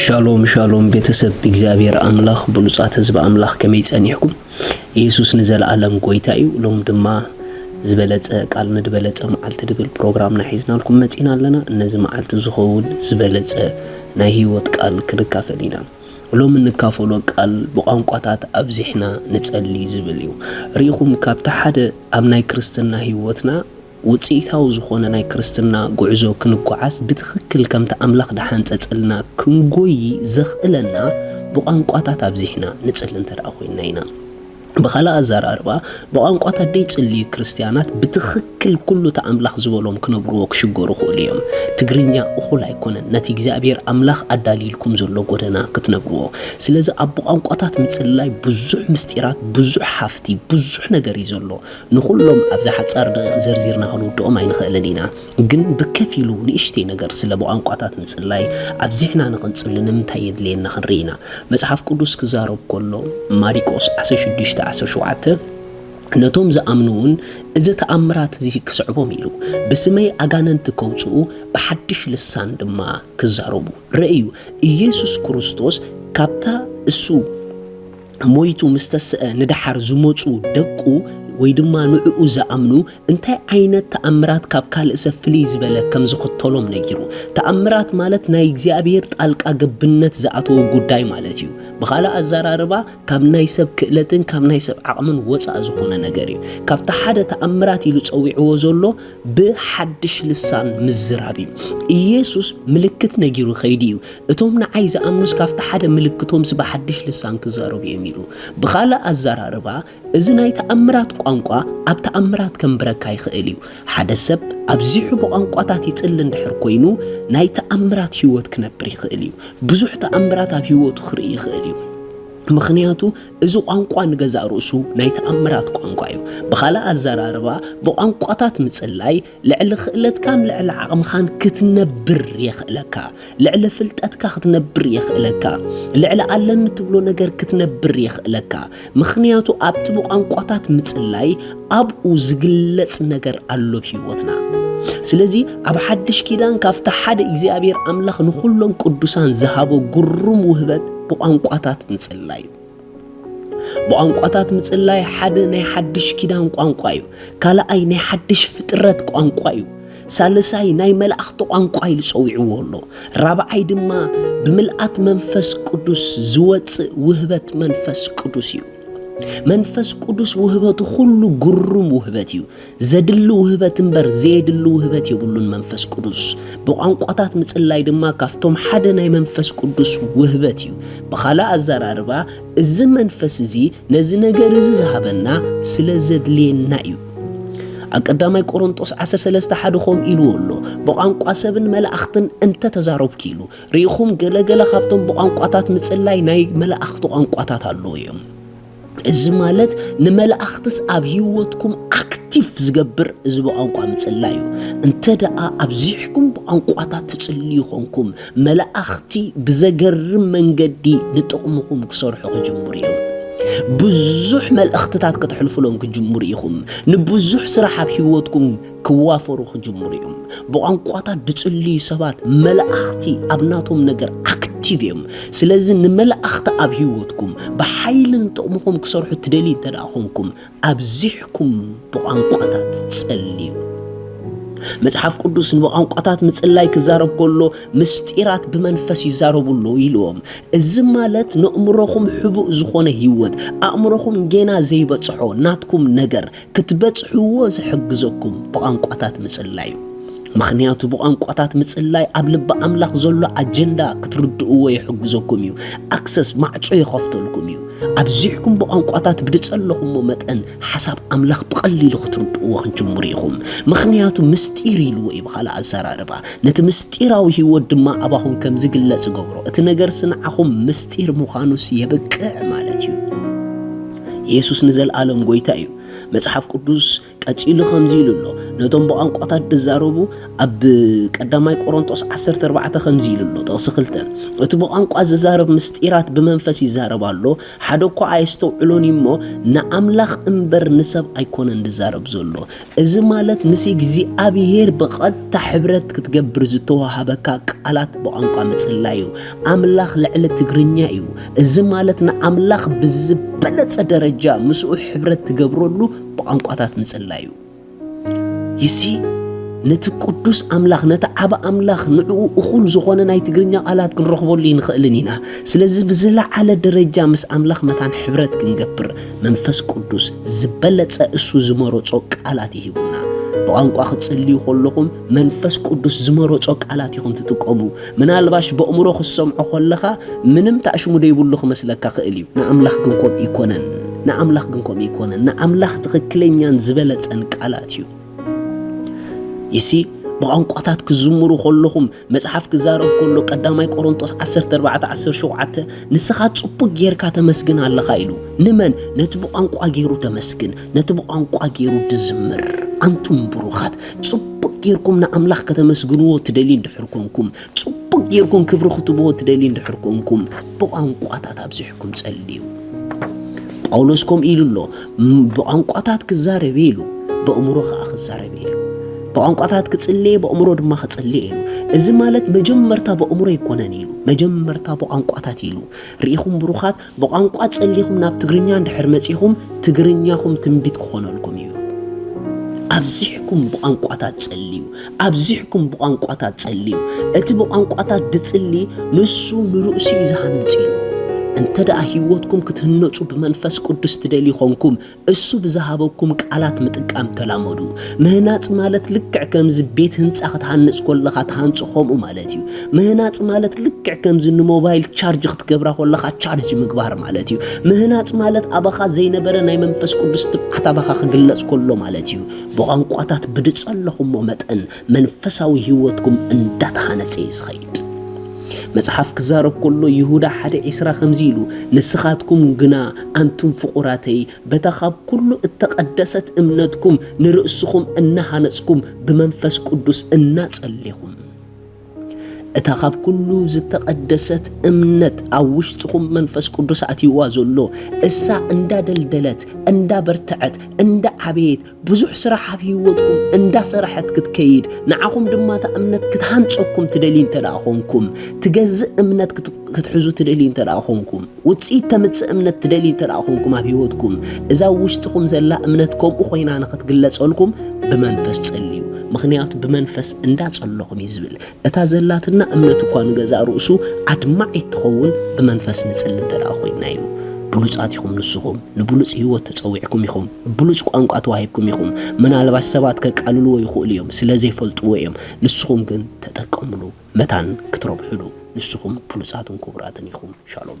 ሻሎም ሻሎም ቤተሰብ እግዚኣብሔር ኣምላኽ ብሉጻት ህዝቢ ኣምላኽ ከመይ ጸኒሕኩም? ኢየሱስ ንዘለኣለም ጎይታ እዩ። ሎም ድማ ዝበለጸ ቃል ንድበለጸ መዓልቲ ድብል ፕሮግራምና ሒዝናልኩም መጺና ኣለና። እነዚ መዓልቲ ዝኸውን ዝበለጸ ናይ ህይወት ቃል ክንካፈል ኢና። ሎም እንካፈሎ ቃል ብቋንቋታት ኣብዚሕና ንጸሊ ዝብል እዩ። ርኢኹም ካብቲ ሓደ ኣብ ናይ ክርስትና ህይወትና ውጽኢታዊ ዝኾነ ናይ ክርስትና ጉዕዞ ክንጎዓዝ ብትኽክል ከምቲ ኣምላኽ ዝሓንጸጸልና ክንጎዪ ዘኽእለና ብቋንቋታት ኣብዚሕና ንጽሊ እንተደኣ ኮይንና ኢና። ብኻልእ ኣዘራርባ ብቋንቋታት ዘይጽልዩ ክርስትያናት ብትኽክል ኩሉ እቲ ኣምላኽ ዝበሎም ክነብርዎ ክሽገሩ ይኽእሉ እዮም። ትግርኛ እኹል ኣይኮነን ነቲ እግዚኣብሔር ኣምላኽ ኣዳልይልኩም ዘሎ ጎደና ክትነብርዎ። ስለዚ ኣብ ብቋንቋታት ምጽልላይ ብዙሕ ምስጢራት ብዙሕ ሃፍቲ ብዙሕ ነገር እዩ ዘሎ። ንኹሎም ኣብዛ ሓጻር ደቒቕ ዘርዚርና ክንውድኦም ኣይንኽእልን ኢና። ግን ብከፊሉ ንእሽተይ ነገር ስለ ብቋንቋታት ምጽላይ ኣብዚሕና ንቕንጽሉ ንምንታይ የድልየና ክንርኢ ኢና። መጽሓፍ ቅዱስ ክዛረብ ከሎ፣ ማሪቆስ ዓሰርተ ሽዱሽተ ዓሰርተ ሸውዓተ፣ ነቶም ዝኣምኑውን እዚ ተኣምራት እዚ ክስዕቦም ኢሉ፣ ብስመይ ኣጋንንቲ ከውጽኡ፣ ብሓድሽ ልሳን ድማ ክዛረቡ። ርእዩ፣ ኢየሱስ ክርስቶስ ካብታ እሱ። ሞይቱ ምስ ተሰኣ ንደሓር ዝመጹ ደቁ ወይ ድማ ንዕኡ ዝኣምኑ እንታይ ዓይነት ተኣምራት ካብ ካልእ ሰብ ፍልይ ዝበለ ከም ዝኽተሎም ነጊሩ። ተኣምራት ማለት ናይ እግዚኣብሄር ጣልቃ ገብነት ዝኣተዎ ጉዳይ ማለት እዩ። ብኻልእ ኣዘራርባ ካብ ናይ ሰብ ክእለትን ካብ ናይ ሰብ ዓቕምን ወጻእ ዝኾነ ነገር እዩ። ካብቲ ሓደ ተኣምራት ኢሉ ጸዊዕዎ ዘሎ ብሓድሽ ልሳን ምዝራብ እዩ። ኢየሱስ ምልክት ነጊሩ ከይዱ እዩ። እቶም ንዓይ ዝኣምኑስ ካብቲ ሓደ ምልክቶምስ ብሓድሽ ልሳን ክዛረቡ እዮም ኢሉ። ብኻልእ ኣዘራርባ እዚ ናይ ተኣምራት ቋንቋ ኣብ ተኣምራት ከንብረካ ይኽእል እዩ። ሓደ ሰብ ኣብዚሑ ብቋንቋታት ይጽሊ እንድሕር ኮይኑ ናይ ተኣምራት ህይወት ክነብር ይኽእል እዩ። ብዙሕ ተኣምራት ኣብ ህይወቱ ክርኢ ይኽእል እዩ። ምኽንያቱ እዚ ቋንቋ ንገዛእ ርእሱ ናይ ተኣምራት ቋንቋ እዩ። ብኻልእ ኣዘራርባ ብቋንቋታት ምጽላይ ልዕሊ ክእለትካን ልዕሊ ዓቕምኻን ክትነብር የኽእለካ። ልዕሊ ፍልጠትካ ክትነብር የኽእለካ። ልዕሊ ኣለኒ ትብሎ ነገር ክትነብር የኽእለካ። ምኽንያቱ ኣብቲ ብቋንቋታት ምጽላይ ኣብኡ ዝግለጽ ነገር ኣሎ ብ ህይወትና። ስለዚ ኣብ ሓድሽ ኪዳን ካብቲ ሓደ እግዚኣብሔር ኣምላኽ ንዅሎም ቅዱሳን ዝሃቦ ግሩም ውህበት ብቋንቋታት ምጽላይ እዩ። ብቋንቋታት ምጽላይ ሓደ ናይ ሓድሽ ኪዳን ቋንቋ እዩ። ካልኣይ ናይ ሓድሽ ፍጥረት ቋንቋ እዩ። ሳልሳይ ናይ መላእኽቲ ቋንቋ ኢሉ ጸዊዕዎ ኣሎ። ራብዓይ ድማ ብምልኣት መንፈስ ቅዱስ ዝወጽእ ውህበት መንፈስ ቅዱስ እዩ። መንፈስ ቅዱስ ውህበቱ ኩሉ ግሩም ውህበት እዩ። ዘድሊ ውህበት እምበር ዘየድሊ ውህበት የብሉን መንፈስ ቅዱስ። ብቋንቋታት ምጽላይ ድማ ካብቶም ሓደ ናይ መንፈስ ቅዱስ ውህበት እዩ። ብኻልእ ኣዘራርባ እዚ መንፈስ እዚ ነዚ ነገር እዚ ዝሃበና ስለ ዘድልየና እዩ። ኣብ ቀዳማይ ቆሮንጦስ ዓሰርተ ሰለስተ ሓደ ከምኡ ኢልዎ ኣሎ፣ ብቋንቋ ሰብን መላእኽትን እንተ ተዛረብኩ ኢሉ። ርኢኹም፣ ገለ ገለ ካብቶም ብቋንቋታት ምጽላይ ናይ መላእኽቲ ቋንቋታት ኣለዉ እዮም። እዚ ማለት ንመላእኽትስ ኣብ ህይወትኩም ኣክቲቭ ዝገብር እዚ ብቋንቋ ምጽላይ እዩ እንተ ደኣ ኣብዚሕኩም ብቋንቋታት ትጽልዩ ኾንኩም መላእኽቲ ብዘገርም መንገዲ ንጥቕምኹም ክሰርሑ ክጅምሩ እዮም ብዙሕ መልእኽትታት ከተሕልፉሎም ክጅምሩ ኢኹም ንብዙሕ ስራሕ ኣብ ህይወትኩም ክዋፈሩ ክጅምሩ እዮም። ብቋንቋታት ዝጽልዩ ሰባት መላእኽቲ ኣብ ናቶም ነገር ኣክቲቭ እዮም። ስለዚ ንመላእኽቲ ኣብ ህይወትኩም ብሓይሊ ንጥቕምኹም ክሰርሑ ትደልዩ እንተ ኮንኩም ኣብዚሕኩም ብቋንቋታት ጸልዩ። መጽሓፍ ቅዱስ ንብቋንቋታት ምጽላይ ክዛረብ ከሎ ምስጢራት ብመንፈስ ይዛረቡ ኣሎ ኢልዎም እዚ ማለት ንእምሮኹም ሕቡእ ዝኾነ ህይወት ኣእምሮኹም ጌና ዘይበጽሖ ናትኩም ነገር ክትበጽሕዎ ዝሕግዘኩም ብቛንቋታት ምጽላይ እዩ። ምኽንያቱ ብቛንቋታት ምጽላይ ኣብ ልቢ ኣምላኽ ዘሎ ኣጀንዳ ክትርድእዎ ይሕግዘኩም እዩ። ኣክሰስ ማዕጾ ይኸፍተልኩም እዩ። ኣብዚሕኩም ብቛንቋታት ብድጸለኹሞ መጠን ሓሳብ ኣምላኽ ብቐሊሉ ክትርድእዎ ክንጅምሩ ኢኹም። ምኽንያቱ ምስጢር ኢልዎ እዩ ብኻልእ ኣዘራርባ። ነቲ ምስጢራዊ ህይወት ድማ ኣባኹም ከም ዝግለጽ ገብሮ። እቲ ነገርሲ ንዓኹም ምስጢር ምዃኑስ የብቅዕ ማለት እዩ። የሱስ ንዘልኣለም ጎይታ እዩ። መጽሓፍ ቅዱስ ቀጺሉ ከምዚ ኢሉ ኣሎ፣ ነቶም ብቛንቋታት ድዛረቡ ኣብ ቀዳማይ ቆሮንጦስ ዓሰርተ ኣርባዕተ ከምዚ ኢሉ ኣሎ፣ ጥቕሲ ክልተ እቲ ብቛንቋ ዝዛረብ ምስጢራት ብመንፈስ ይዛረብ ኣሎ፣ ሓደ እኳ ኣየስተውዕሎን እዩ እሞ፣ ንኣምላኽ እምበር ንሰብ ኣይኮነን ድዛረብ ዘሎ። እዚ ማለት ምስ እግዚኣብሔር ብቐጥታ ሕብረት ክትገብር ዝተዋሃበካ ቃላት ብቋንቋ ምጽላይ እዩ። ኣምላኽ ልዕሊ ትግርኛ እዩ። እዚ ማለት ንኣምላኽ ብዝበለጸ ደረጃ ምስኡ ሕብረት ትገብረሉ ብቋንቋታት ምጽላይ እዩ። ይሲ ነቲ ቅዱስ ኣምላኽ ነቲ ዓብ ኣምላኽ ንዕኡ እኹል ዝኾነ ናይ ትግርኛ ቃላት ክንረኽበሉ ይንኽእልን ኢና። ስለዚ ብዝለዓለ ደረጃ ምስ ኣምላኽ መታን ሕብረት ክንገብር መንፈስ ቅዱስ ዝበለጸ እሱ ዝመረጾ ቃላት ይህቡና። ብቋንቋ ክትጽልዩ ከለኹም መንፈስ ቅዱስ ዝመረጾ ቃላት ኢኹም ትጥቀሙ። ምናልባሽ በእምሮ ክትሰምዖ ከለኻ ምንም ታእሽሙ ደይብሉ ክመስለካ ክእል እዩ። ንኣምላኽ ግን ከምኡ ኣይኮነን። ንኣምላኽ ግን ከምኡ ኣይኮነን። ንኣምላኽ ትኽክለኛን ዝበለጸን ቃላት እዩ። ይሲ ብቋንቋታት ክዝምሩ ከለኹም መጽሓፍ ክዛረብ ከሎ ቀዳማይ ቆሮንቶስ 14 17 ንስኻ ጽቡቅ ጌርካ ተመስግን ኣለኻ ኢሉ ንመን ነቲ ብቋንቋ ጌሩ ተመስግን ነቲ ብቋንቋ ጌሩ ድዝምር ኣንቱም ብሩኻት ጽቡቅ ጌርኩም ንኣምላኽ ከተመስግንዎ ትደልዩ እንድሕር ኮንኩም ጽቡቕ ጌርኩም ክብሪ ክትብዎ ትደልዩ እንድሕር ኮንኩም፣ ብቋንቋታት ኣብዚሕኩም ጸልዩ። ጳውሎስ ከምኡ ኢሉ ኣሎ፣ ብቋንቋታት ክዛረብ እየ ኢሉ፣ በእምሮ ከኣ ክዛረብ እየ ኢሉ። ብቋንቋታት ክጽሊ እየ፣ በእምሮ ድማ ክጽሊ እየ ኢሉ። እዚ ማለት መጀመርታ በእምሮ ኣይኮነን ኢሉ፣ መጀመርታ ብቋንቋታት ኢሉ። ርኢኹም ብሩኻት? ብቋንቋ ጸሊኹም ናብ ትግርኛ እንድሕር መጺኹም ትግርኛኹም ትንቢት ክኾነልኩም እዩ። ኣብዚሕኩም ብቋንቋታት ጸልዩ፣ ኣብዚሕኩም ብቋንቋታት ጸልዩ። እቲ ብቋንቋታት ድጽሊ ንሱ ንርእሱ እዩ ዝሃንጽ ኢሉ። እንተ ደኣ ህይወትኩም ክትህነጹ ብመንፈስ ቅዱስ ትደልዩ ኾንኩም እሱ ብዝሃበኩም ቃላት ምጥቃም ተላመዱ። ምህናጽ ማለት ልክዕ ከምዚ ቤት ህንጻ ክትሃንጽ ኮለኻ ትሃንጾ ከምኡ ማለት እዩ። ምህናጽ ማለት ልክዕ ከምዚ ንሞባይል ቻርጅ ክትገብራ ኮለኻ ቻርጅ ምግባር ማለት እዩ። ምህናጽ ማለት ኣባኻ ዘይነበረ ናይ መንፈስ ቅዱስ ትብዓት ኣባኻ ክግለጽ ኮሎ ማለት እዩ። ብቋንቋታት ብድጸለኹሞ መጠን መንፈሳዊ ህይወትኩም እንዳተሃነጸ እዩ ዝኸይድ። መጽሓፍ ክዛረብ ከሎ ይሁዳ ሓደ ዒስራ ከምዚ ኢሉ ንስኻትኩም ግና ኣንቱም ፍቑራተይ በታ ካብ ኩሉ እተቐደሰት እምነትኩም ንርእስኹም እናሃነጽኩም ብመንፈስ ቅዱስ እናጸሌኹም እታ ካብ ኩሉ ዝተቐደሰት እምነት ኣብ ውሽጥኹም መንፈስ ቅዱስ ኣትይዋ ዘሎ እሳ እንዳደልደለት እንዳበርትዐት እንዳዓበየት ብዙሕ ስራሕ ኣብ ህይወትኩም እንዳሰራሐት ክትከይድ ንዓኹም ድማ እታ እምነት ክትሃንጸኩም ትደልዩ እንተደኣ ኾንኩም ትገዝእ እምነት ክትሕዙ ትደልዩ እንተደኣ ኾንኩም ውጽኢት ተምጽእ እምነት ትደልዩ እንተደኣ ኾንኩም ኣብ ህይወትኩም እዛ ኣብ ውሽጥኹም ዘላ እምነት ከምኡ ኮይና ንኽትግለጸልኩም ብመንፈስ ጸልዩ ምኽንያቱ ብመንፈስ እንዳጸለኹም እዩ ዝብል እታ ዘላትና እምነት እኳ ንገዛእ ርእሱ ኣድማዒት ትኸውን ብመንፈስ ንጽሊ እንተ ደኣ ኮይንና እዩ። ብሉጻት ኢኹም ንስኹም። ንብሉጽ ህይወት ተጸዊዕኩም ኢኹም። ብሉጽ ቋንቋ ተዋሂብኩም ኢኹም። ምናልባሽ ሰባት ከቃልልዎ ይኽእሉ እዮም፣ ስለ ዘይፈልጥዎ እዮም። ንስኹም ግን ተጠቀምሉ፣ መታን ክትረብሕሉ። ንስኹም ብሉጻትን ክቡራትን ኢኹም። ሻሎም።